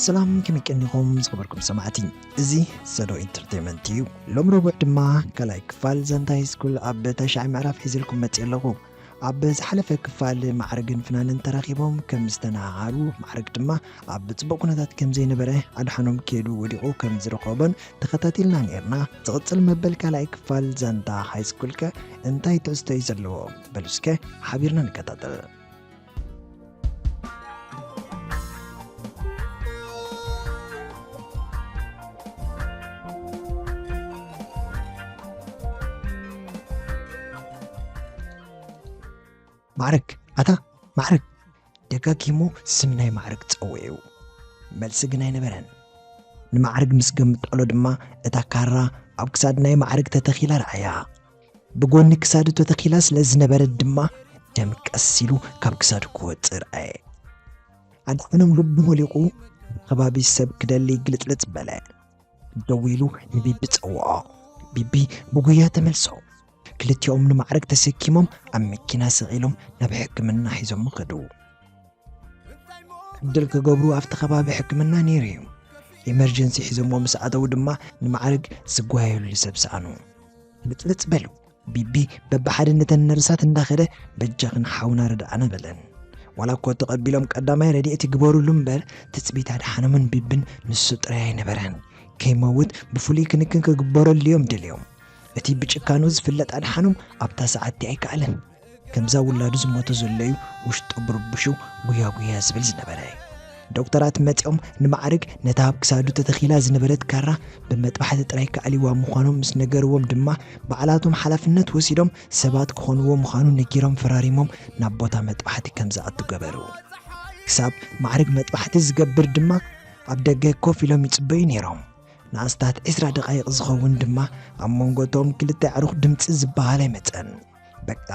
ሰላም ከመቀኒኹም ዝኸበርኩም ሰማዕቲ እዚ ሰዶ ኢንተርቴንመንት እዩ ሎም ረቡዕ ድማ ካልኣይ ክፋል ዛንታ ሃይስኩል ኣብ ተሻዒ ምዕራፍ ሒዘልኩም መፅእ ኣለኹ ኣብ ዝሓለፈ ክፋል ማዕርግን ፍናንን ተራኺቦም ከም ዝተነሃሃሩ ማዕርግ ድማ ኣብ ጽቡቕ ኩነታት ከም ዘይነበረ ኣድሓኖም ኬዱ ወዲቑ ከም ዝረኸቦን ተኸታቲልና ነይርና። ዝቕጽል መበል ካልኣይ ክፋል ዛንታ ሃይስኩልከ እንታይ ትሕዝቶ እዩ ዘለዎ? በሉ እስከ ሓቢርና ንከታተል። ማዕርግ ኣታ ማዕርግ ደጋጊሙ ስም ናይ ማዕርግ ጸውዑ መልሲ ግን ኣይነበረን ንማዕርግ ምስ ገምጠሎ ድማ እታ ካራ ኣብ ክሳድ ናይ ማዕርግ ተተኺላ ረኣያ ብጎኒ ክሳዱ ተተኺላ ስለ ዝነበረት ድማ ደም ቀስ ኢሉ ካብ ክሳዱ ክወፅእ ረኣየ። ኣድሓኖም ልቡ ሞሊቑ ከባቢ ሰብ ክደሊ ግልፅልፅ በለ። ደው ኢሉ ንቢቢ ጸውዖ። ቢቢ ብጉያ ተመልሶ። ክልቲኦም ንማዕረግ ተሰኪሞም ኣብ መኪና ሰቒሎም ናብ ሕክምና ሒዞሞ ከዱ። ዕድል ክገብሩ ኣብቲ ከባቢ ሕክምና ነይሩ እዩ ኢመርጀንሲ ሒዞሞ ምስ ኣተዉ ድማ ንማዕርግ ዝጓየሉ ሰብ ሰኣኑ ልፅልፅ በሉ ቢቢ በብሓደ ነተን ነርሳት እንዳኸደ በጃኽን ሓውና ርድኣና በለን ዋላ እኮ ተቐቢሎም ቀዳማይ ረድኤት ይግበሩሉ እምበር ትፅቢት ኣድሓኖምን ቢብን ንሱ ጥራይ ኣይነበረን ከይመውት ብፍሉይ ክንክን ክግበረሉ እዮም ደልዮም እቲ ብጭካኑ ዝፍለጥ ኣድሓኖም ኣብታ ሰዓቲ ኣይከኣለን ከምዛ ውላዱ ዝሞተ ዘሎ'ዩ ውሽጡ ብርቡሹ ጉያ ጉያ ዝብል ዝነበረ። ዶክተራት መጺኦም ንማዕርግ ነታ ኣብ ክሳዱ ተተኺላ ዝነበረት ካራ ብመጥባሕቲ ጥራይ ከኣልዩዋ ምዃኖም ምስ ነገርዎም ድማ ባዕላቶም ሓላፍነት ወሲዶም ሰባት ክኾንዎ ምዃኑ ነጊሮም ፈራሪሞም ናብ ቦታ መጥባሕቲ ከም ዝኣቱ ገበሩ። ክሳብ ማዕርግ መጥባሕቲ ዝገብር ድማ ኣብ ደገ ኮፍ ኢሎም ይጽበዩ ነይሮም። ንኣስታት ዕስራ ደቓይቕ ዝኸውን ድማ ኣብ መንጎ'ቶም ክልተ ኣዕሩኽ ድምጺ ዝበሃል ኣይመጸን። በቃ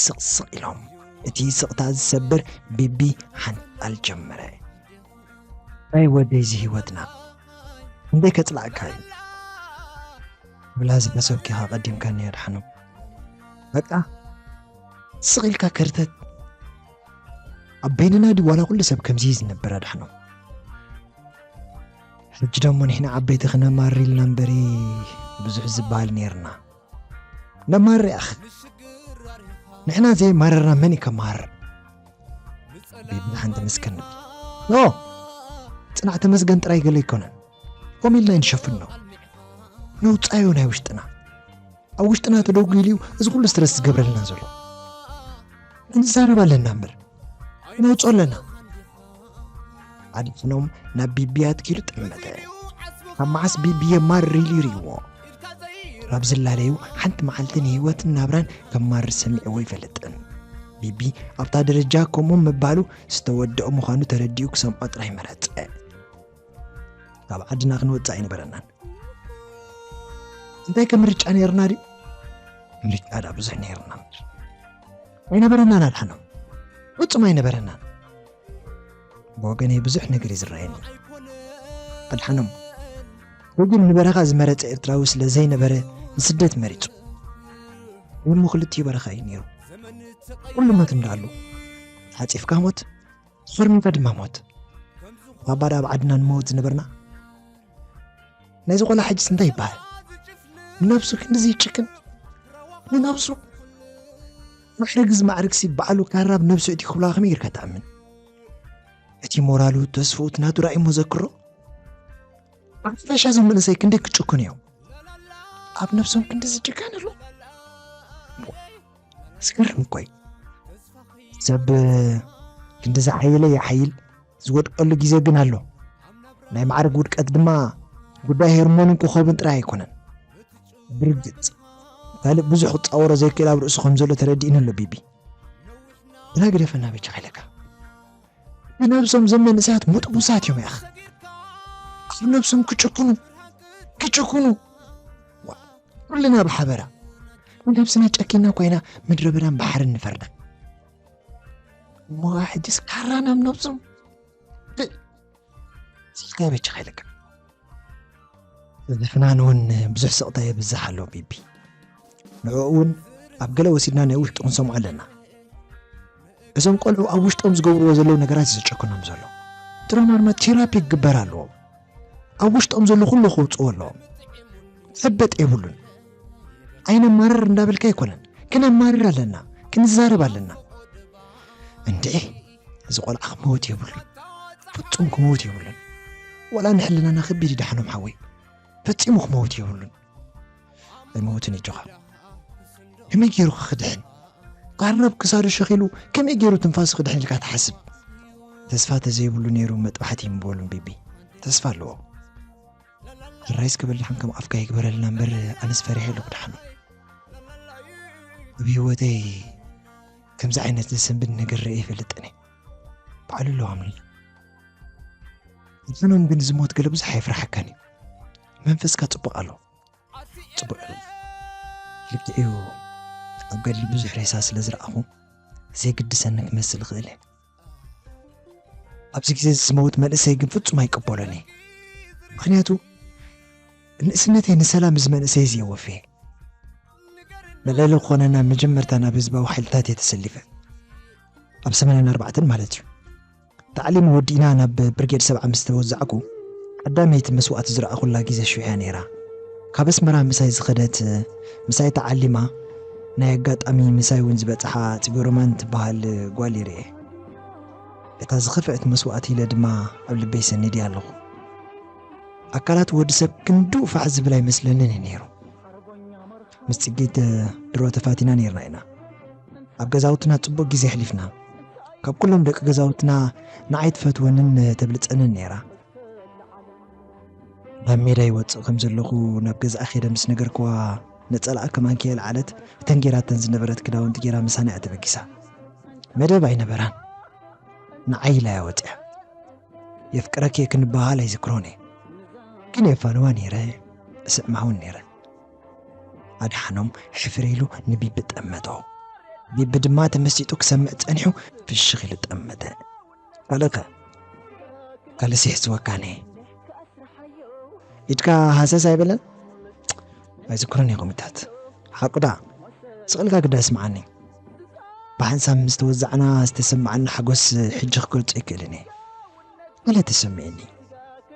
ስቕ ስቕ ኢሎም እቲ ስቕታ ዝሰብር ቢቢ ሓንጣል ጀመረ። ናይ ወደይዚ ህይወትና እንደ ከጽላእካ እዩ ብላ ዝተሰኪኻ ቀዲምካኒ ኣድሓኑ በቃ ስቕ ኢልካ ከርተት ኣብ በይንና ዲ ዋላ ኩሉ ሰብ ከምዚ ዝነብር ኣድሓኑ ሕጂ ደሞ ንሕና ዓበይቲ ክነማሪ ኢልና እምበሪ ብዙሕ ዝበሃል ነይርና ነማርር ያኣኺ ንሕና ዘይማረርና መን እዩ ከማርር ቤብና ሓንቲ መስከን ኖ ፅናዕ ተመስገን ጥራይ ገለ ኣይኮነን ከምኡ ኢልና ንሸፍኖ ነውፃዮ ናይ ውሽጥና ኣብ ውሽጥና ተደጉ ኢሉ እዩ እዚ ኩሉ ስትረስ ዝገብረልና ዘሎ እንዛረብ ኣለና እምበር ነውፆ ኣለና ኣድሕኖም ናብ ቢቢ ኣትኪሉ ጠመተ ካብ መዓስ ቢቢ የማር ሪል ይርእዎ ናብ ዝላለዩ ሓንቲ መዓልቲ ንህይወትን ናብራን ከም ማር ሰሚዕዎ ይፈልጥን ቢቢ ኣብታ ደረጃ ከምኡ ምባሉ ዝተወደኦ ምዃኑ ተረዲኡ ክሰምዖ ጥራይ መረጸ ካብ ዓድና ክንወፅእ ኣይነበረናን እንታይ ከም ምርጫ ነርና ድዩ ምርጫ ዳ ብዙሕ ነርና ምድር ኣይነበረናን ኣድሓኖም ፍፁም ኣይነበረናን ብወገነይ ብዙሕ ነገር እዩ ዝረኣየኒ ኣድሓኖም ወግን ንበረኻ ዝመረፀ ኤርትራዊ ስለ ዘይነበረ ንስደት መሪፁ እሞ ክልቲኡ በረኻ እዩ ነይሩ ኩሉ ሞት እንዳሉ ተሓፂፍካ ሞት ድሕሪ ምንታይ ድማ ሞት ባባዳ ኣብ ዓድና ንመውት ዝነበርና ናይዚ ቆልዓ ሕጅስ እንታይ ይበሃል ንነብሱ ክንድዚ ይጭክን ንነብሱ ማዕርግዚ ማዕርግሲ በዓሉ ካራብ ነብሱ እቲ ክብላ ከመይ ጌርካ ትኣምን እቲ ሞራሉ ተስፍኡ እቲ ናቱ ራእይ መዘክሮ ብሓፈሻ እዞም መንእሰይ ክንደይ ክጭክኑ እዮም ኣብ ነብሶም ክንዲ ዝጭከን ኣሎ ዝገርም እኮ እዩ ሰብ ክንዲ ዝሓየለ ይሓይል ዝወድቀሉ ግዜ ግን ኣሎ ናይ ማዕርግ ውድቀት ድማ ጉዳይ ሄርሞንን ኮኸብን ጥራይ ኣይኮነን ብርግጽ ካልእ ብዙሕ ክጻወሮ ዘይክእል ኣብ ርእሱ ከም ዘሎ ተረዲእኒ ኣሎ ቢቢ ግና ግደፈና ብቻ ኢለካ ብነብሶም ዘም መንእሰያት ሙጥቡሳት እዮም ያኽ ኣብ ነብሶም ክጭክኑ ክጭክኑ ኩልና ብሓበራ ንነብስና ጨኪና ኮይና ምድረ በዳን ባሕርን ንፈርዳ እሞ ሕጅስ ካራ ናብ ነብሶም ስልካይ በጃ ከይለካ ዝፍናን እውን ብዙሕ ስቕታ የብዝሕ ኣሎ ቢቢ ንዕኡ እውን ኣብ ገለ ወሲድና ናይ ውሽጡ ክንሰምዖ ኣለና እዞም ቆልዑ ኣብ ውሽጦም ዝገብርዎ ዘለዉ ነገራት እዩ ዘጨክኖም ዘሎ ትሮማርማ ቴራፒ ክግበር ኣለዎም ኣብ ውሽጦም ዘሎ ኩሉ ክውፅዎ ኣለዎም ሕበጥ የብሉን ኣይነማርር እንዳበልካ ኣይኮነን ክነማርር ኣለና ክንዛረብ ኣለና እንዴ እዚ ቆልዓ ክመውት የብሉ ፍፁም ክመውት የብሉን ወላ ንሕልናና ከቢድ ይዳሕኖም ሓወይ ፈፂሙ ክመውት የብሉን ኣይመውትን እጆኻ ከመይ ገይሩ ክድሕን ቃርናብ ክሳዱ ሸኺሉ ከመይ ገይሩ ትንፋሱ ክድሕን ኢልካ ትሓስብ ተስፋ ተዘይብሉ ነይሩ መጥባሕቲ ይምበሉን ቢቢ ተስፋ ኣለዎ ራይስ ክበልዕን ከም ኣፍካ ይግበረልና እምበር ኣነስ ፈሪሐ ኣለኩ ድሓኑ ኣብ ህይወተይ ከምዚ ዓይነት ዘሰንብድ ነገር ርአ ይፈልጥን እየ በዓሉ ኣለዋምልና እንትኖም ግን ዝሞት ገለ ብዙሕ ኣይፍራሓካን እዩ መንፈስካ ጽቡቕ ኣሎ ጽቡቕ እዩ ልክዕ እዩ ኣብ ገድሊ ብዙሕ ሬሳ ስለ ዝረኣኹ ዘይግድሰኒ ክመስል ይኽእል እየ ኣብዚ ግዜ ዝመውት መንእሰይ ግን ፍጹም ኣይቀበሎን እየ ምክንያቱ ንእስነተይ ንሰላም እዚ መንእሰይ እዚ የወፍየ መለለ ክኾነ ናብ መጀመርታ ናብ ህዝባዊ ሓይልታት እየ ተሰሊፈ ኣብ ሰመናን ኣርባዕተን ማለት እዩ ታዕሊም ወዲእና ናብ ብርጌድ ሰብዓ ምስ ተወዛዕኩ፣ ቀዳመይቲ መስዋእቲ ዝረኣኹላ ግዜ ሽዑ'ያ ነይራ። ካብ ኣስመራ ምሳይ ዝኸደት፣ ምሳይ ተዓሊማ፣ ናይ ኣጋጣሚ ምሳይ'ውን ዝበጽሓ ጽገሮማን ትበሃል ጓል ይርኤ። እታ ዝኸፍኤት መስዋእቲ ኢለ ድማ ኣብ ልበይ ሰኒደያ ኣለኹ። ኣካላት ወዲ ሰብ ክንድኡ ፋሕ ዝብል ኣይመስለንን እዩ ነይሩ። ምስ ጽጌት ድሮ ተፋቲና ነይርና ኢና። ኣብ ገዛውትና ጽቡቕ ግዜ ኣሕሊፍና ካብ ኩሎም ደቂ ገዛውትና ንዓይ ትፈትወንን ተብልጸንን ነይራ ናብ ሜዳ ይወፅእ ከም ዘለኹ ናብ ገዛኣ ኼደ ምስ ነገርክዋ ነፀላኣ ከም ኣንኪ የልዓለት እተን ጌራተን ዝነበረት ክዳውንቲ ጌራ ምሳና እያ ተበጊሳ መደብ ኣይነበራን ንዓይ ኢላ እያ ወፅያ የፍቅረኪ ክንበሃል ኣይዝክሮን እየ ግን የፋንዋ ነይረ እስዕማውን ነይረ ኣድሓኖም ሕፍር ኢሉ ንቢቢ ጠመቶ ቢቢ ድማ ተመሲጡ ክሰምዕ ጸኒሑ ፍሽኽ ኢሉ ጠመተ ካልእከ ካልእሲ ሕስወካነ ኢድካ ሃሰስ ኣይበለን ኣይዝክሮን እየ ኮሚታት ሓቁዳ ስቕልካ ግዳ ስምዓኒ ብሓንሳብ ምስ ተወዛዕና ዝተሰማዓኒ ሓጎስ ሕጂ ክገልጾ ኣይክእልን እየ ገለ ተሰሚዕኒ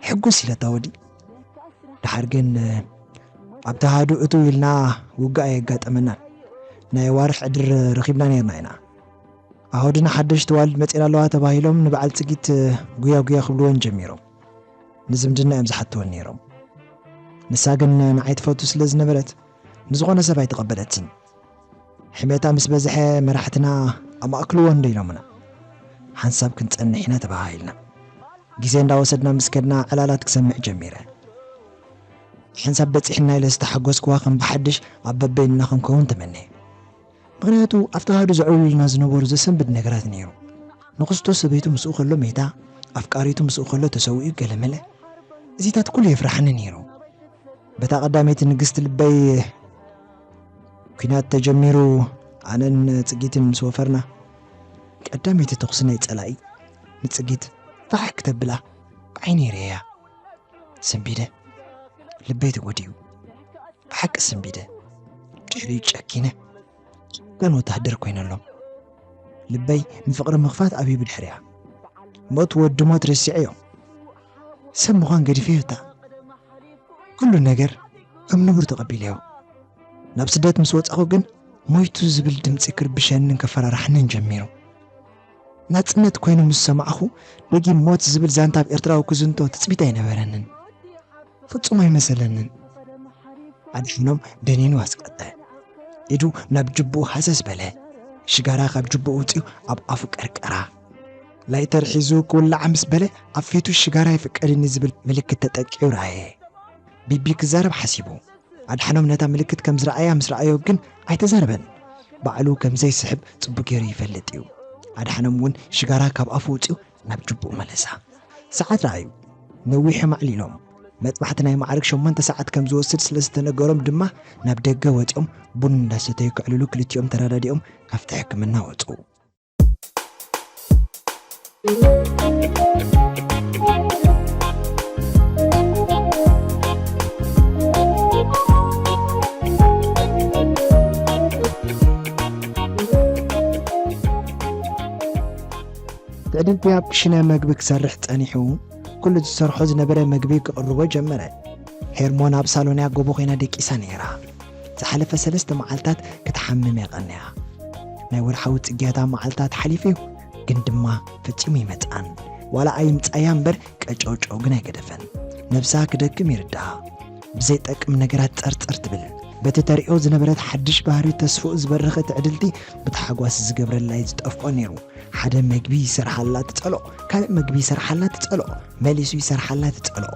ሕጉስ ኢለታ ወዲ ድሓር ግን ኣብቲ ሃዱ እቱ ኢልና ውግእ ኣየጋጠመናን ናይ ኣዋርሕ ዕድር ረኺብና ነርና ኢና ኣወድና ሓደሽ ተዋልድ መፂና ኣለዋ ተባሂሎም ንበዓል ፅጊት ጉያ ጉያ ክብልዎን ጀሚሮም ንዝምድና እዮም ዝሓትወን ነይሮም ንሳ ግን ንዓይ ትፈቱ ስለ ዝነበረት ንዝኾነ ሰብ ኣይተቐበለትን ሕሜታ ምስ በዝሐ መራሕትና ኣማእክልዎ እንዶ ኢሎምና ሓንሳብ ክንጸንሕ ኢና ተበሃሂልና ግዜ እንዳወሰድና ምስ ከድና ዕላላት ክሰምዕ ጀሚረ ሓንሳብ በጺሕና ኢለ ዝተሓጎስክዋ ከም ብሓድሽ ኣብ በበይንና ክንከውን ተመነየ ምክንያቱ ኣብቲ ሃዱ ዘዕብሉልና ዝነበሩ ዘሰንብድ ነገራት ነይሩ ንክስቶ ሰበይቱ ምስኡ ከሎ ሜታ ኣፍቃሪቱ ምስኡ ከሎ ተሰዊኡ ገለመለ እዚታት ኩሉ የፍራሓኒ ነይሩ በታ ቀዳመይቲ ንግስቲ ልበይ ኩናት ተጀሚሩ ኣነን ጽጊትን ምስ ወፈርና ቀዳመይቲ ተኹሲ ናይ ጸላኢ ንጽጊት ፋሕ ክተብላ ዓይኒ ርእያ ስንቢደ ልበይ ተጎዲኡ ብሓቂ ስንቢደ ድሕሪኡ ጨኪነ ጭካን ወተሃደር ኮይነሎም ልበይ ንፍቕሪ ምኽፋት ኣብዩ ብድሕሪያ ሞት ወዲ ሞት ርሲዐዮ ሰብ ምዃን ገዲፈዮ እታ ኩሉ ነገር ከም ንቡር ተቐቢለዮ። ናብ ስደት ምስ ወጻኹ ግን ሞይቱ ዝብል ድምጺ ክርብሸንን ከፈራርሓንን ጀሚሩ። ናጽነት ኮይኑ ምስ ሰማዕኹ ደጊም ሞት ዝብል ዛንታ ኣብ ኤርትራዊ ክዝንቶ ትጽቢት ኣይነበረንን። ፍጹም ኣይመሰለንን። ኣድሓኖም ደኒኑ ኣስቀጠ። ኢዱ ናብ ጅብኡ ሃሰስ በለ። ሽጋራ ካብ ጅብኡ ኣውጺኡ ኣብ ኣፉ ቀርቀራ። ላይተር ሒዙ ክውላዓ ምስ በለ ኣብ ፊቱ ሽጋራ ይፍቀድኒ ዝብል ምልክት ተጠቂዑ ረኣየ። ቢቢ ክዛረብ ሓሲቡ ኣድሓኖም ነታ ምልክት ከም ዝረኣያ ምስ ረኣዮ ግን ኣይተዛረበን። ባዕሉ ከም ዘይስሕብ ጽቡቅ ገይሩ ይፈልጥ እዩ። ኣድሓኖም እውን ሽጋራ ካብ ኣፉ ውጽኡ ናብ ጅቡኡ መለሳ። ሰዓት ረኣዩ። ነዊሖም ኣዕሊሎም። መጥባሕቲ ናይ ማዕርግ ሸሞንተ ሰዓት ከም ዝወስድ ስለ ዝተነገሮም ድማ ናብ ደገ ወጺኦም ቡን እንዳሰተዩ ከዕልሉ ክልቲኦም ተረዳዲኦም ካብቲ ሕክምና ወጹ። ትዕድል ፒያፕ ክሽነ መግቢ ክሰርሕ ጸኒሑ ኩሉ ዝሰርሖ ዝነበረ መግቢ ክቕርቦ ጀመረ። ሄርሞን ኣብ ሳሎንያ ጎቦ ኮይና ደቂሳ ነይራ። ዝሓለፈ ሰለስተ መዓልታት ክትሓምም እያ ቀንያ። ናይ ወርሓዊ ጽግያታ መዓልታት ሓሊፉ እዩ፣ ግን ድማ ፈጺሙ ኣይመጽኣን። ዋላ ኣይምጻያ እምበር ቀጨውጨው ግን ኣይገደፈን። ነብሳ ክደክም ይርድኣ። ብዘይጠቅም ነገራት ጸርጸር ትብል። በቲ ተርእዮ ዝነበረት ሓድሽ ባህሪ ተስፍኡ ዝበረኸ ትዕድልቲ ብታሕጓስ ዝገብረላ እዩ ዝጠፍኦ ነይሩ። ሓደ መግቢ ይሰርሓላ ትጸልኦ፣ ካልእ መግቢ ይሰርሓላ ትጸልኦ፣ መሊሱ ይሰርሓላ ትጸልኦ።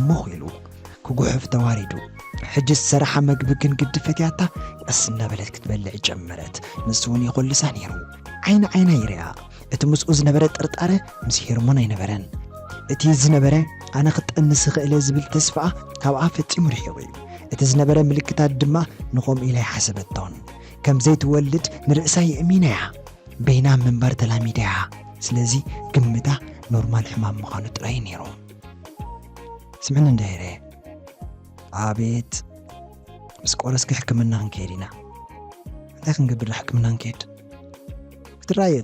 ሞኽ ኢሉ ክጉሕፍ ተዋሪዱ። ሕጂ ዝሰራሓ መግቢ ግን ግዲ ፈትያታ ቀስ እናበለት ክትበልዕ ጀመረት። ንሱ እውን ይኾልሳ ነይሩ። ዓይኒ ዓይና ይርኣ። እቲ ምስኡ ዝነበረ ጥርጣረ ምስ ሄርሞን ኣይነበረን። እቲ ዝነበረ ኣነ ክጠንስ ይኽእለ ዝብል ተስፋኣ ካብኣ ፈጺሙ ርሒቑ እዩ። እቲ ዝነበረ ምልክታት ድማ ንኸምኡ ኢላ ኣይሓሰበቶን። ከም ዘይትወልድ ንርእሳ የእሚና እያ። በይና ምንባር ተላሚዳ እያ። ስለዚ ግምታ ኖርማል ሕማም ምዃኑ ጥራይ እዩ ነይሩ። ስምዕኒ እንዳ ሄሬ ኣቤት ምስ ቆረስኪ ሕክምና ክንከይድ ኢና እንታይ ክንገብር ሕክምና ንከይድ ክትረኣየ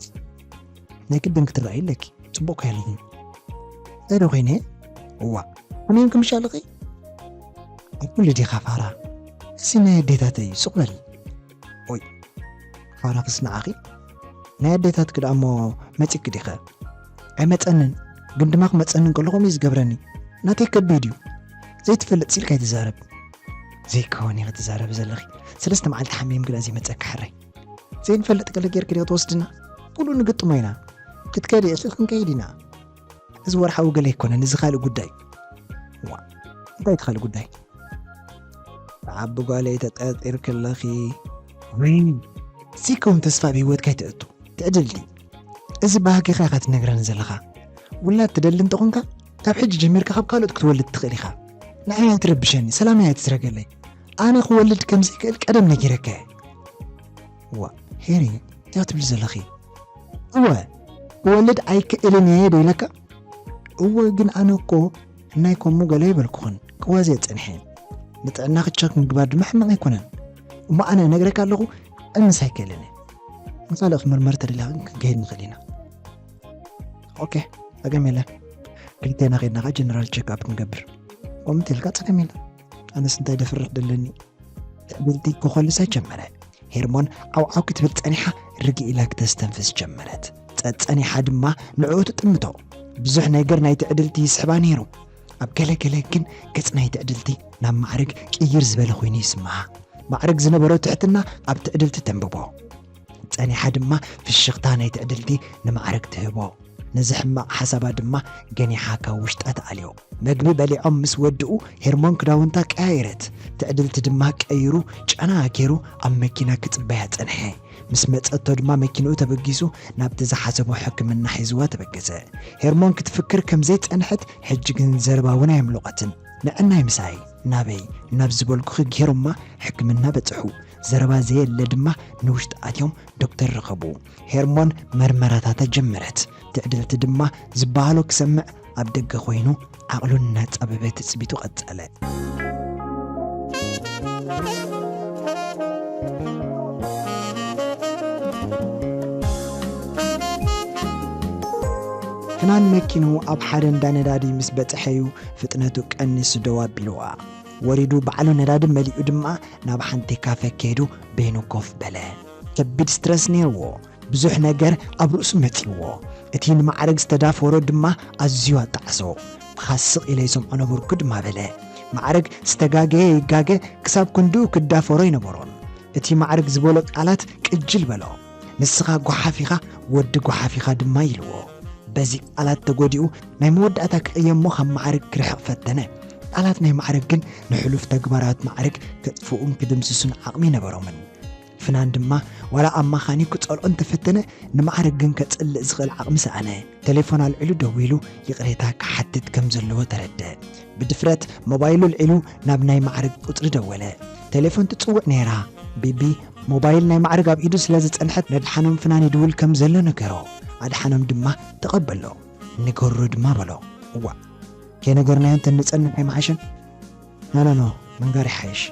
ናይ ቅድም ክትረኣዩ ኣለኪ ፅቡቅ ከይልኒ እንታይ ዶ ኮይነ እዋ ከመይ ክምሻ ኣለኺ ኣብ ኩሉ ዲኻ ፋራ እዚ ናይ ኣዴታተይ እዩ ሱቅ በል ኦይ ፋራክስ ንዓኺ ናይ ኣዴታት ክድኣ እሞ መጺኪ ዲኸ ኣይመጸንን ግን ድማ ክመጸኒ ከለኹም እዩ ዝገብረኒ ናተይ ከቢድ እዩ ዘይትፈልጥ ሲልካ ኣይትዛረብ ዘይከወን እዩ ክትዛረብ ዘለኺ ሰለስተ መዓልቲ ሓሚም ግዳ ዘይመጸካ ሕራይ ዘይንፈልጥ ገለ ጌርክ ዲኸ ትወስድና ኩሉ ንግጥሞ ኢና ክትከዲ እሱ ክንከይድ ኢና እዚ ወርሓዊ ገለ ኣይኮነን እዚ ካልእ ጉዳይ እዩ ዋ እንታይ እቲ ካልእ ጉዳይ ብዓቢ ጓለይ ተጠርጢርኪ ኣለኺ ሲከውን ተስፋ ኣብ ሂወትካ ይትእቱ ትዕድልቲ እዚ ባህጊኻ ኢኻ ትነግረኒ ዘለኻ ውላድ ትደሊ እንተኾንካ ካብ ሕጂ ጀሚርካ ካብ ካልኦት ክትወልድ ትኽእል ኢኻ ንዓይ ኣይትረብሸኒ ሰላም እያ ትስረገለይ ኣነ ክወልድ ከም ዘይክእል ቀደም ነጊረካ እየ እዋእ ሄሪ እንታይ ትብሊ ዘለኺ እወ ክወልድ ኣይክእልን እየ ዶ ኢለካ እወ ግን ኣነ እኮ እናይ ከምኡ ገለ ይበልኩኽን ክዋዘ ፀኒሐ ንጥዕና ክቸክ ምግባር ድማ ሕማቕ ኣይኮነን እሞ ኣነ ነግረካ ኣለኹ እንስ ኣይክእልን ንካልእ ክምርመር ተደሊኻ ክንከይድ ንኽእል ኢና ኦኬ ፀገም የለን ክልቴና ከይድና ከዓ ጀነራል ቸክኣፕ ክንገብር ከምቲ ኢልካ ፀገም የለን ኣነስ እንታይ ደፍርሕ ደለኒ ትዕብልቲ ክኾልሰ ጀመረ ሄርሞን ዓውዓው ክትብል ጸኒሓ ርግ ኢላ ክተስተንፍስ ጀመረት ጸጸኒሓ ድማ ንዕኡ ትጥምቶ ብዙሕ ነገር ናይ ትዕድልቲ ይስሕባ ነይሩ ኣብ ገለገለ ግን ገጽ ናይ ትዕድልቲ ናብ ማዕርግ ቅይር ዝበለ ኮይኑ ይስምዓ ማዕርግ ዝነበሮ ትሕትና ኣብ ትዕድልቲ ተንብቦ ጸኒሓ ድማ ፍሽኽታ ናይ ትዕድልቲ ንማዕርግ ትህቦ። ነዚ ሕማቕ ሓሳባ ድማ ገኒሓ ካብ ውሽጣ ትኣልዮ። መግቢ በሊዖም ምስ ወድኡ ሄርሞን ክዳውንታ ቀያየረት። ትዕድልቲ ድማ ቀይሩ ጨና ጌሩ ኣብ መኪና ክጽበያ ጸንሐ። ምስ መጸቶ ድማ መኪንኡ ተበጊሱ ናብቲ ዝሓሰቦ ሕክምና ሒዝዋ ተበገሰ። ሄርሞን ክትፍክር ከም ዘይጸንሐት ሕጂ ግን ዘረባ እውን ኣየምሎቐትን። ንዕናይ ምሳይ ናበይ ናብ ዝበልኩኺ ጌሮማ ሕክምና በጽሑ። ዘረባ ዘየለ ድማ ንውሽጢ ኣትዮም ዶክተር ረኸቡ። ሄርሞን መርመራታታ ጀመረት። ትዕድልቲ ድማ ዝበሃሎ ክሰምዕ ኣብ ደገ ኮይኑ ዓቕሉ እናጻበበ ትጽቢቱ ቀጸለ። ፍናን መኪኑ ኣብ ሓደ እንዳ ነዳዲ ምስ በጽሐ'ዩ ፍጥነቱ ቀኒሱ ደው ኣቢልዋ። ወሪዱ ባዕሉ ነዳዲ መሊኡ ድማ ናብ ሓንቲ ካፈ ከይዱ በይኑ ኮፍ በለ። ከቢድ ስትረስ ነይርዎ። ብዙሕ ነገር ኣብ ርእሱ መጺእዎ። እቲ ንማዕርግ ዝተዳፈሮ ድማ ኣዝዩ ኣጣዕሶ። ምኻስ ስቕ ኢለ ይሰምዖ ነበርኩ ድማ በለ። ማዕርግ ዝተጋገየ ይጋገ ክሳብ ክንድኡ ክዳፈሮ ኣይነበሮን። እቲ ማዕርግ ዝበሎ ቃላት ቅጅል በሎ። ንስኻ ጓሓፍ ኢኻ ወዲ ጓሓፍ ኢኻ ድማ ኢልዎ። በዚ ቃላት ተጎዲኡ ናይ መወዳእታ ክቕየሞ ካብ ማዕርግ ክርሕቕ ፈተነ። ቃላት ናይ ማዕርግ ግን ንሕሉፍ ተግባራት ማዕርግ ከጥፍኡን ክድምስሱን ዓቕሚ ነበሮምን። ፍናን ድማ ዋላ ኣማኻኒ ክጸልኦ እንተፈተነ ንማዕርግ ግን ከጽልእ ዝኽእል ዓቕሚ ሰኣነ። ቴሌፎን ኣልዒሉ ደዊሉ ይቕሬታ ክሓትት ከም ዘለዎ ተረድእ። ብድፍረት ሞባይሉ ኣልዒሉ ናብ ናይ ማዕርግ ቁጽሪ ደወለ። ቴሌፎን ትጽውዕ ነይራ። ቢቢ ሞባይል ናይ ማዕርግ ኣብ ኢዱ ስለ ዝጸንሐት ነድሓኖም ፍናን ይድውል ከም ዘሎ ነገሮ። ኣድሓኖም ድማ ተቐበሎ። ንገሮ ድማ በሎ። እዋእ! ከይነገርናዮ እንተ እንጸንሕ ኣይምሓሸን? ኖኖኖ ምንጋር ይሓይሽ።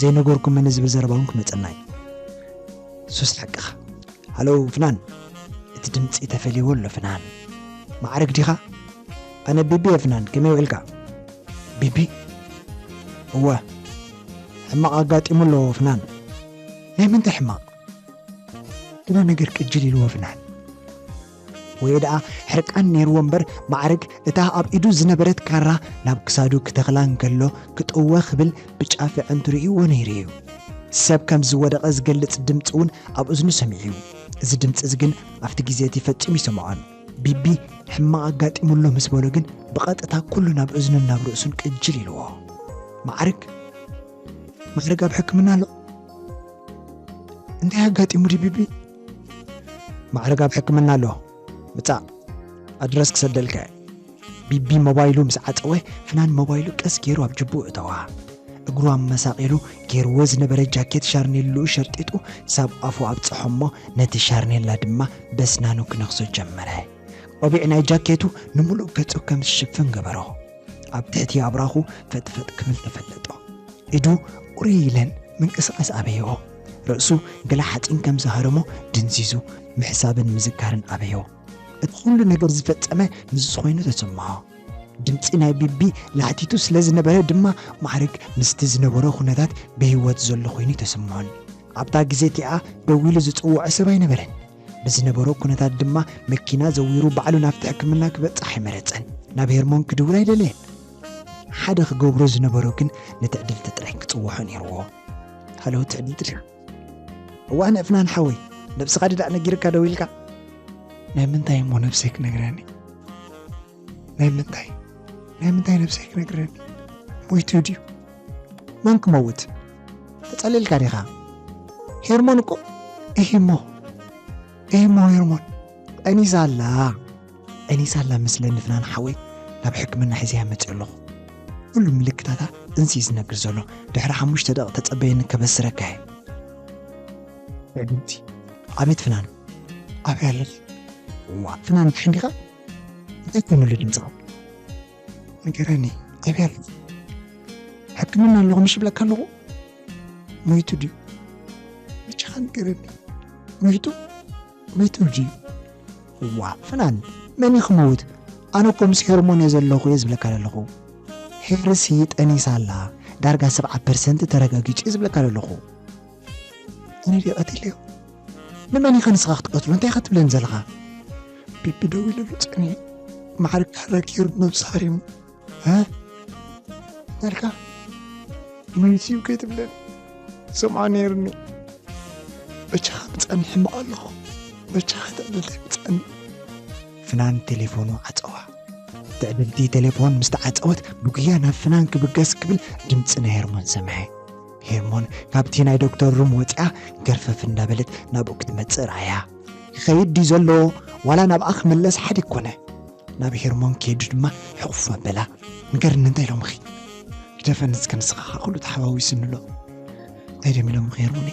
ዘይነገርኩምኒ ዝብል ዘረባ እውን ክመጸና እዩ። ሱስ ሓቅኻ። ሃሎ ፍናን! እቲ ድምጺ ተፈልይዎ ኣሎ ፍናን። ማዕርግ ዲኻ? ኣነ ቢቢ ኤፍናን ከመይ ውዒልካ ቢቢ እወ ሕማቕ ኣጋጢሙ ኣሎ ወፍናን ናይ ምንታይ ሕማቕ ግና ነገር ቅጅል ኢሉ ወፍናን ወይ ደኣ ሕርቃን ነይርዎ እምበር ማዕርግ እታ ኣብ ኢዱ ዝነበረት ካራ ናብ ክሳዱ ክተኽላ እንከሎ ክጥወ ክብል ብጫፍ ኣዕንቱ ርእይዎ ነይሩ እዩ ሰብ ከም ዝወደቐ ዝገልጽ ድምፂ እውን ኣብ እዝኑ ሰሚዑ እዩ እዚ ድምፂ እዚ ግን ኣብቲ ግዜ እቲ ፈጺሙ ይሰምዖን ቢቢ ሕማቕ ኣጋጢሙ ኣሎ ምስ በሎ ግን ብቐጥታ ኩሉ ናብ እዝኑን ናብ ርእሱን ቅጅል ኢልዎ። ማዕርግ ማዕርግ ኣብ ሕክምና ኣሎ እንታይ ኣጋጢሙ ድዩ ቢቢ? ማዕርግ ኣብ ሕክምና ኣሎ ምጻእ ኣድረስ ክሰደልካ እየ። ቢቢ ሞባይሉ ምስ ዓጸወ ፍናን ሞባይሉ ቀስ ጌሩ ኣብ ጅብኡ እተዋ። እግሩ ኣመሳቂሉ ጌርዎ ዝነበረ ጃኬት ሻርኔልኡ ሸርጢጡ ሳብ ኣፉ ኣብጸሖ'ሞ ነቲ ሻርኔላ ድማ በስናኑ ክነኽሶ ጀመረ። ቆቢዕ ናይ ጃኬቱ ንምሉእ ገጹ ከም ዝሽፍን ገበሮ። ኣብ ትሕቲ ኣብራኹ ፈጥፈጥ ክብል ተፈለጦ። ኢዱ ቁርይ ኢለን ምንቅስቃስ ኣበይኦ። ርእሱ ገለ ሓጺን ከም ዝሃረሞ ድንዚዙ ምሕሳብን ምዝካርን ኣበዮ። እቲ ኩሉ ነገር ዝፈጸመ ንሱ ኮይኑ ተሰምዖ። ድምጺ ናይ ቢቢ ላሕቲቱ ስለ ዝነበረ ድማ ማዕርግ ምስቲ ዝነበሮ ኩነታት ብህይወት ዘሎ ኮይኑ ኣይተሰምዖን። ኣብታ ግዜ እቲኣ ደው ኢሉ ዝጽውዖ ሰብ ኣይነበረን። ብዝነበሮ ኩነታት ድማ መኪና ዘዊሩ ባዕሉ ናብቲ ሕክምና ክበጽሕ ኣይመረጸን። ናብ ሄርሞን ክድውል ኣይደለየን። ሓደ ክገብሮ ዝነበሮ ግን ነቲ ዕድልቲ ጥራይ ክጽውዖ ነይርዎ። ሃሎ ትዕድልቲ ድያ? እዋእ ንእፍናን ሓወይ ነብስኻ ድዳእ ነጊርካ ደዊልካ። ናይ ምንታይ እሞ ነብሰይ ክነግረኒ ናይ ምንታይ ናይ ምንታይ ነብሰይ ክነግረኒ ሞይቱ ድዩ መን ክመውት ተጸሊልካ ዲኻ ሄርሞን እኮ እሂሞ እሂሞ ሄርሞን ጠኒሳ ኣላ ዕኒ ሳላ ምስለ ንፍናን ሓወይ ናብ ሕክምና ሒዘያ መጺኦ ኣለኹ። ኩሉ ምልክታታ እንስዩ ዝነግር ዘሎ ድሕሪ ሓሙሽተ ደቒቕ ተጸበየኒ ከበስረካ እየ። ዕድምቲ ኣቤት ፍናን ኣብይ ኣለኪ እዋእ ፍናን ድሓን ዲኻ እንታይ ኮይኑሉ ድምፅኻ ንገረኒ ኣብይ ኣለኪ ሕክምና ኣለኹ ምሽ ብለካ ኣለኹ ሞይቱ ድዩ ብቻኻ ንገረኒ ሞይቱ ቤተልጂ ዋእ ፍናን መን እዩ ክመውት ኣነ እኮ ምስ ሄርሞን እየ ዘለኹ እየ ዝብለካ ዘለኹ ሄርሲ ጠኒሳ ኣላ ዳርጋ ሰብዓ ፐርሰንት ተረጋጊጹ እየ ዝብለካ ዘለኹ ኣነ ድየ ቀቲለዮ ንመን ኢኻ ንስኻ ክትቀትሎ እንታይ ኢኻ ትብለኒ ዘለኻ ቢቢ ደዊለሉ ጸኒሑ ማዕርግ ካራ ገይሩ ነብሱ ሃሪሙ መልካ መንስዩ ከይትብለን ሰምዖ ነይርኒ በቻኻ ምፀኒ ሕምቕ ኣለኹ በቻኻ ትዕድልተይ ምፀኒ ፍናን ቴሌፎኑ ዓፀዋ ትዕድልቲ ቴሌፎን ምስ ተዓፀወት ብጉያ ናብ ፍናን ክብገስ ክብል ድምፂ ናይ ሄርሞን ሰምዐ ሄርሞን ካብቲ ናይ ዶክተር ሩም ወፂኣ ገርፈፍ እንዳበለት ናብኡ ክትመፅእ ረኣያ ይኸይድ ድዩ ዘሎ ዋላ ናብኣ ክምለስ ሓዲ ኮነ ናብ ሄርሞን ከይዱ ድማ ሕቑፍ ኣበላ ንገርኒ እንታይ ኢሎምኺ ግደፈኒ እስከ ንስኻ ከዓ ኩሉ ተሓዋዊሱኒ ኣሎ እንታይ ደም ኢሎምኺ ሄርሞኒ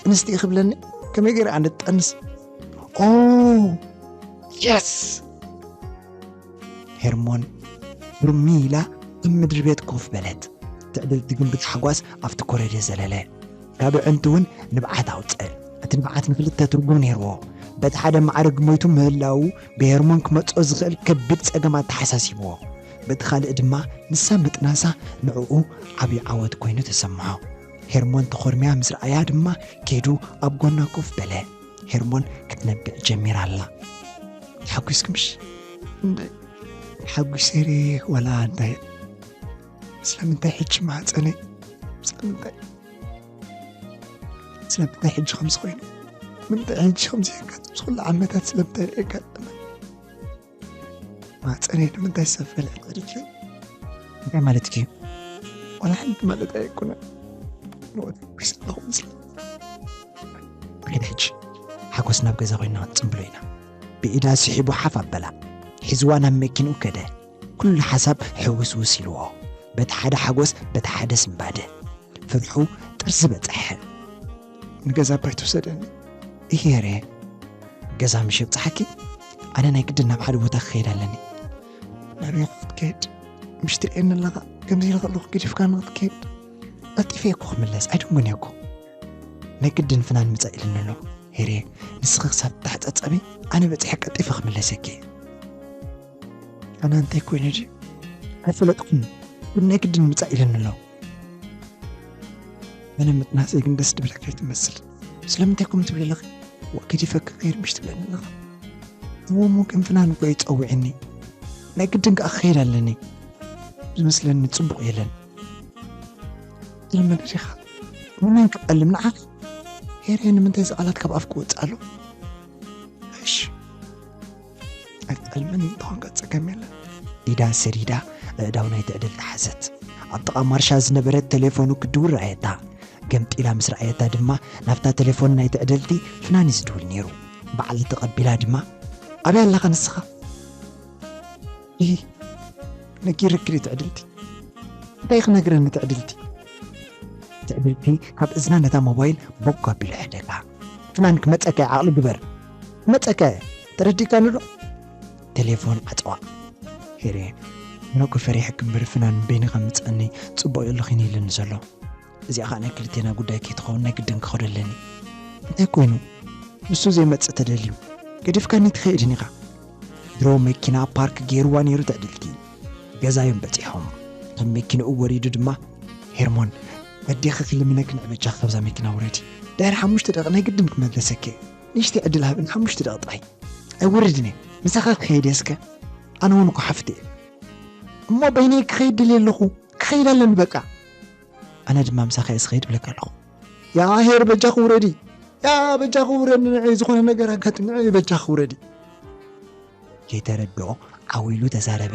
እንስቲ ክብለኒ ከመይ ገይረ ኣነ ጠንስ ኦ የስ ሄርሞን ብርሚ ኢላ ኣብ ምድሪ ቤት ኮፍ በለት ትዕድልቲ ግን ብታሕጓስ ኣብቲ ኮረደ ዘለለ ካብ ዕንቲ እውን ንብዓት ኣውፅእ እቲ ንብዓት ንክልተ ትርጉም ነይርዎ በቲ ሓደ ማዕርግ ሞይቱ ምህላዉ ብሄርሞን ክመጽኦ ዝኽእል ከቢድ ጸገም ኣተሓሳሲብዎ። በቲ ካልእ ድማ ንሳ ምጥናሳ ንዕኡ ዓቢ ዓወት ኰይኑ ተሰምዖ። ሄርሞን ተኾርምያ ምስ ረኣያ ድማ ከይዱ ኣብ ጐና ኮፍ በለ። ሄርሞን ክትነብዕ ጀሚራ ኣላ። ተሓጒስኩምሽ? እንደ ሓጒሰ ርየ ዋላ እንታይ ስለምንታይ ሕጂ ማህጸነይ ስለምንታይ ስለምንታይ ሕጂ ከምዚ ኮይኑ ምንታይ ሕጂ ከምዚ የጋጥም ዝኩሉ ዓመታት ስለምንታይ የጋጥመ ማፀነይ ንምንታይ ሰብ ፈልዐ ቅሪት እዩ እንታይ ማለት እዩ ዋላ ሓንቲ ማለት ኣይኮነ ንወደስ ኣለኹ ምስሊ ሕጂ ሓጎስ ናብ ገዛ ኮይና ክንፅምብሎ ኢና ብኢዳ ስሒቡ ሓፍ ኣበላ ሒዝዋ ናብ መኪንኡ ከደ ኩሉ ሓሳብ ሕውስውስ ኢልዎ። በቲ ሓደ ሓጎስ በቲ ሓደ ስንባደ ፍርሑ ጥርዚ በጸሐ። ንገዛ ኣባይ ትውሰደኒ እየሬ። ገዛ ምሽ የብጽሓኪ? ኣነ ናይ ግድን ናብ ሓደ ቦታ ክኸይድ ኣለኒ። ናበይ ኢኻ ክትከድ? ምሽ ትርእየኒ ኣለኻ? ከምዚ ኢለ ከለኹ ገዲፍካኒ ክትከድ? ቀልጢፈ እየ እኮ ክምለስ ኣይድንጎን እየ እኮ። ናይ ግድን ፍናን ምጸእ ኢሉኒ ኣሎ። ሄሬ ንስኺ ክሳብ እትሕጸጸቢ ኣነ በጺሐ ቀልጢፈ ክምለሰኪ እየ። ኣነ እንታይ ኮይኑ ድዩ ኣይፈለጥኩም ግን ናይ ግድን ምፃእ ኢለን ኣለዎ መነ ምጥናሰይ ግን ደስ ድብለካ ይትመስል ስለምንታይ ኮም ትብል ኣለኺ ወግዲ ፈክ ከይርምሽ ትብለኒ ኣለኻ እዎሞ ቅንፍናን እኮ ይፀውዕኒ ናይ ግድን ከዓ ክኸይድ ኣለኒ ዝመስለኒ ፅቡቕ የለን ዝለመደ ዲኻ ንመን ክጠልም ንዓኺ ሄሬ ንምንታይ እዚ ቃላት ካብ ኣፍ ክወፅእ ኣሎ እሺ ኣይትዕልመኒ እንተኾንካ ጸገም የለን ኢዳ ሰዲዳ ኣእዳው ናይ ትዕድልቲ ሓዘት ኣብ ጥቓ ማርሻ ዝነበረት ቴሌፎኑ ክድውል ረኣየታ ገምጢላ ምስ ረኣየታ ድማ ናብታ ቴሌፎን ናይ ትዕድልቲ ፍናን እዩ ዝድውል ነይሩ በዓል ተቐቢላ ድማ ኣበይ ኣለኻ ንስኻ ይ ነጊርኪ ትዕድልቲ እንታይ ክነግረኒ ትዕድልቲ ትዕድልቲ ካብ እዝና ነታ ሞባይል ቦጓ ኣቢሉ ሕደጋ ትማን ክመጸከ ዓቅሊ ግበር ክመጸከ ተረዲካኒ ዶ ተሌፎን ዓጸዋ ሄርየ ምነኮ ፈሪሐኪ እምበር ፍናን በይንኻ ምጸኒ ጽቡቅ ዩ ኣለኺ ኢሉኒ ዘሎ እዚኣ ከዓ ናይ ክልቴና ጉዳይ ከይትኸውን ናይ ግድን ክኸዶ ኣለኒ እንታይ ኮይኑ ንሱ ዘይመጽእ ተደልዩ ገዲፍካኒ ትኸይድን ኢኻ ድሮ መኪና ፓርክ ገይርዋ ነይሩ ትዕድልቲ ገዛዮም በጺሖም ካብ መኪንኡ ወሪዱ ድማ ሄርሞን በዴኺ ክልምነኪ ንዕበጃኺ ካብዛ መኪና ውረዲ ድሕሪ ሓሙሽተ ደቂ ናይ ግድን ክመለሰኪ ንሽቲ ዕድል ሃብን ሓሙሽተ ደቂ ጥራይ ኣይወርድን እየ ምሳኻ ክኸይድ እየ እስከ ኣነ እውን እኮ ሓፍቲ እየ እሞ በይነይ ክኸይድ ድልየ ኣለኹ ክኸይድ ኣለኒ በቃ ኣነ ድማ ምሳኻ እየ ዝኸይድ ብለካ ኣለኹ ያ ሄር በጃኺ ውረዲ ያ በጃኺ ውረዲ ንዕይ ዝኾነ ነገር ኣጋጥም ንዕይ በጃኺ ውረዲ ከይተረድኦ ዓው ኢሉ ተዛረበ።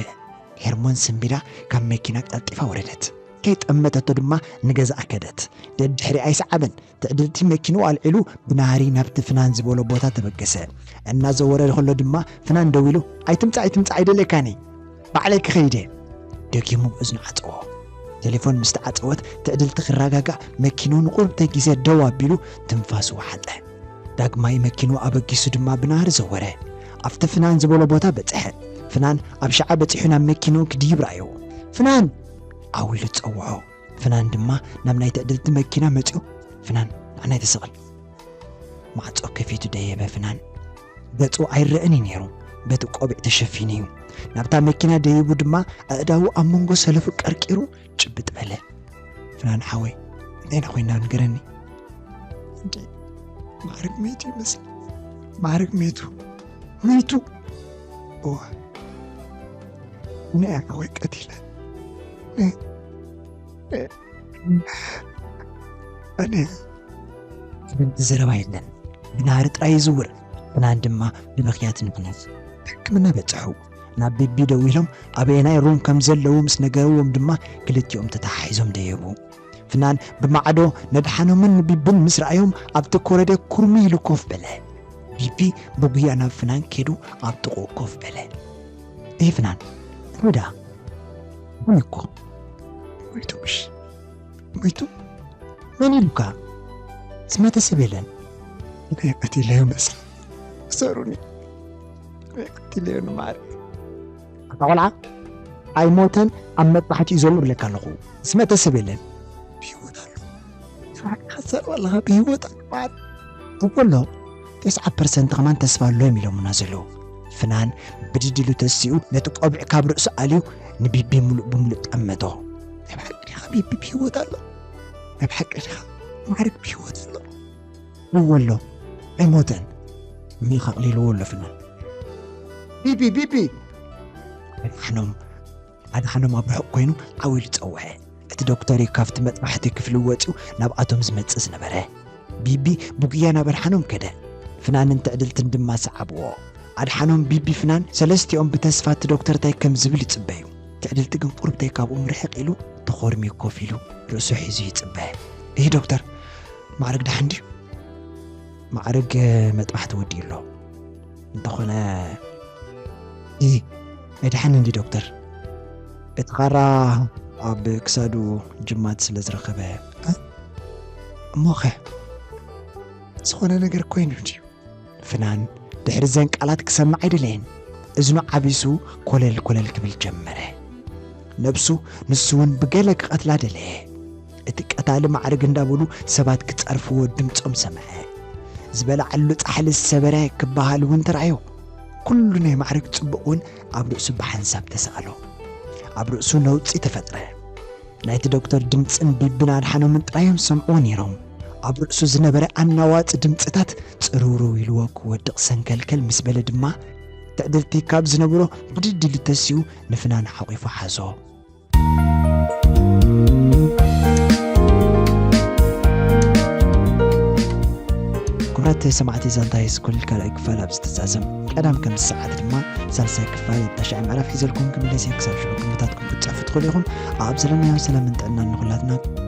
ሄርሞን ስንቢዳ ካብ መኪና ቀልጢፋ ወረደት። ከይጠመተቶ ድማ ንገዝኣ ከደት። ደድሕሪኣ ኣይሰዓበን። ትዕድልቲ መኪንኡ ኣልዒሉ ብናህሪ ናብቲ ፍናን ዝበሎ ቦታ ተበገሰ። እናዘወረ ከሎ ድማ ፍናን ደው ኢሉ ኣይትምጻእ ኣይትምጻእ ኣይደልየካን እየ። ባዕለይ ክኸይድ እየ ደጊሙ እዝኑ ዓጸዎ። ቴሌፎን ምስ ተዓጸወት ትዕድልቲ ክረጋጋእ መኪንኡ ንቑርብተይ ግዜ ደው ኣቢሉ ትንፋሱ ወሓጠ። ዳግማይ መኪንኡ ኣበጊሱ ድማ ብናህሪ ዘወረ። ኣብቲ ፍናን ዝበሎ ቦታ በጽሐ። ፍናን ኣብ ሸዓ በጺሑ ናብ መኪንኡ ክድይብ ረኣዮ። ፍናን! ዓው ኢሉ ጸውዖ። ፍናን ድማ ናብ ናይ ትዕድልቲ መኪና መጺኡ ፍናን ንዓናይ ተሰቕል። ማዕጾ ከፊቱ ደየበ ፍናን። ገጹ ኣይረእን እዩ ነይሩ፣ በቲ ቆቢዕ ተሸፊኑ እዩ። ናብታ መኪና ደይቡ ድማ ኣእዳዉ ኣብ መንጎ ሰለፉ ቀርቂሩ ጭብጥ በለ። ፍናን ሓወይ እንታይ ዳ ኮይና ንገረኒ። እንዴ ማዕርግ ሜቱ ይመስል ማዕርግ ሜቱ ሜቱ እወ ንያ ወይ ቀቲለ እኔ ግን ዘረባ የለን ብናህሪ ጥራይ ይዝውር ብናን ድማ ንምክያት ምክንያት ሕክምና በጽሑ ናብ ቤቢ ደው ኢሎም ኣበየናይ ሩም ከም ዘለዉ ምስ ነገርዎም ድማ ክልቲኦም ተተሓሒዞም ደየቡ ፍናን ብማዕዶ ነድሓኖምን ንቢብን ምስ ረኣዮም ኣብቲ ኮረደ ኩርሚ ኢሉ ኮፍ በለ ቢቢ ብጉያ ናብ ፍናን ከይዱ ኣብ ጥቑ ኮፍ በለ እይ ፍናን እንታይ ደኣ ምን እኮ መይቶሽ መይቱ መን ኢሉካ ዝመተ ሰብ የለን ናይ ቀቲለዮ መስል እሰሩኒ ናይ ቀቲለዮ ንማር ኣታ ቆልዓ ኣይሞተን ኣብ መጥባሕቲ እዩ ዘሎ ብለካ ኣለኹ ዝመተ ሰብ የለን ብሂወት ኣሎ ተባዕካ ትሰርበ ኣለኻ ብሂወት ኣሎ ማር እኮ ኣሎ ተስዓ ፐርሰንት ከማን ተስፋ ኣሎ እዮም ኢሎምና ዘለዉ። ፍናን ብድድ ኢሉ ተሲኡ ነቲ ቆቢዕ ካብ ርእሱ ኣልዩ ንቢቢ ምሉእ ብምሉእ ጠመቶ። ናይ ብሓቂ ዲኻ ቢቢ ብሂወት ኣሎ? ናይ ብሓቂ ዲኻ ማዕርግ ብሂወት ኣሎ? እወ ኣሎ ኣይሞተን ሚኽ ኣቕሊልዎ ኣሎ ፍናን ቢቢ ቢቢ ኣድሓኖም ኣድሓኖም ኣብ ርሑቕ ኮይኑ ዓው ኢሉ ጸውዐ። እቲ ዶክተር እዩ ካብቲ መጥባሕቲ ክፍሊ ወጺኡ ናብኣቶም ዝመጽእ ዝነበረ። ቢቢ ብጉያ ናብ ኣድሓኖም ከደ። ፍናንን ትዕድልትን ድማ ሰዓብዎ። ኣድሓኖም፣ ቢቢ፣ ፍናን ሰለስቲኦም ብተስፋ እቲ ዶክተር እንታይ ከም ዝብል ይጽበዩ። ትዕድልቲ ግን ቁሩብ እንታይ ካብኦም ርሕቕ ኢሉ ተኾርምዩ ኮፍ ኢሉ ርእሱ ሒዙ ይጽበ። እሂ ዶክተር፣ ማዕርግ ደሓን ድዩ? ማዕርግ መጥባሕቲ ወዲኡ ኣሎ። እንተኾነ እዚ መድሓኒ እንዲ ዶክተር እቲ ካራ ኣብ ክሳዱ ጅማት ስለ ዝረኸበ እሞኸ ዝኾነ ነገር ኮይኑ ድዩ ፍናን ድሕሪ ዘን ቃላት ክሰምዕ ኣይደለየን እዝኑ ዓቢሱ ኮለል ኮለል ክብል ጀመረ ነብሱ ንሱ እውን ብገለ ክቐትላ ደለየ እቲ ቀታሊ ማዕርግ እንዳበሉ ሰባት ክጸርፍዎ ድምጾም ሰምዐ። ዝበልዓሉ ጻሕሊ ዝሰበረ ክበሃል እውን ተራእዮ። ኩሉ ናይ ማዕርግ ጽቡቕ እውን ኣብ ርእሱ ብሓንሳብ ተሰኣሎ። ኣብ ርእሱ ነውጺ ተፈጥረ። ናይቲ ዶክተር ድምጽን ቢብን ኣድሓኖምን ጥራዮም ዝሰምዕዎ ነይሮም። ኣብ ርእሱ ዝነበረ ኣናዋጺ ድምጽታት ጽርውርው ኢልዎ ክወድቕ ሰንከልከል ምስ በለ ድማ ትዕድርቲ ካብ ዝነብሮ ብድድ ኢሉ ተሲኡ ንፍናን ሓቚፉ ሓዞ። ክቡራት ሰማዕቲ ዛንታ ሃይስኩል ካልኣይ ክፋል ኣብ ዝተዛዘም ቀዳም ከምዚ ሰዓት ድማ ሳልሳይ ክፋል ተሻዒ ምዕራፍ ሒዘልኩም ክምለስ እየ ክሳብ ሽዑ ግምታትኩም ክትፅሕፉ ትኽእሉ ኢኹም ኣብ ዘለናዮ ሰላምን ጥዕናን ንኹላትና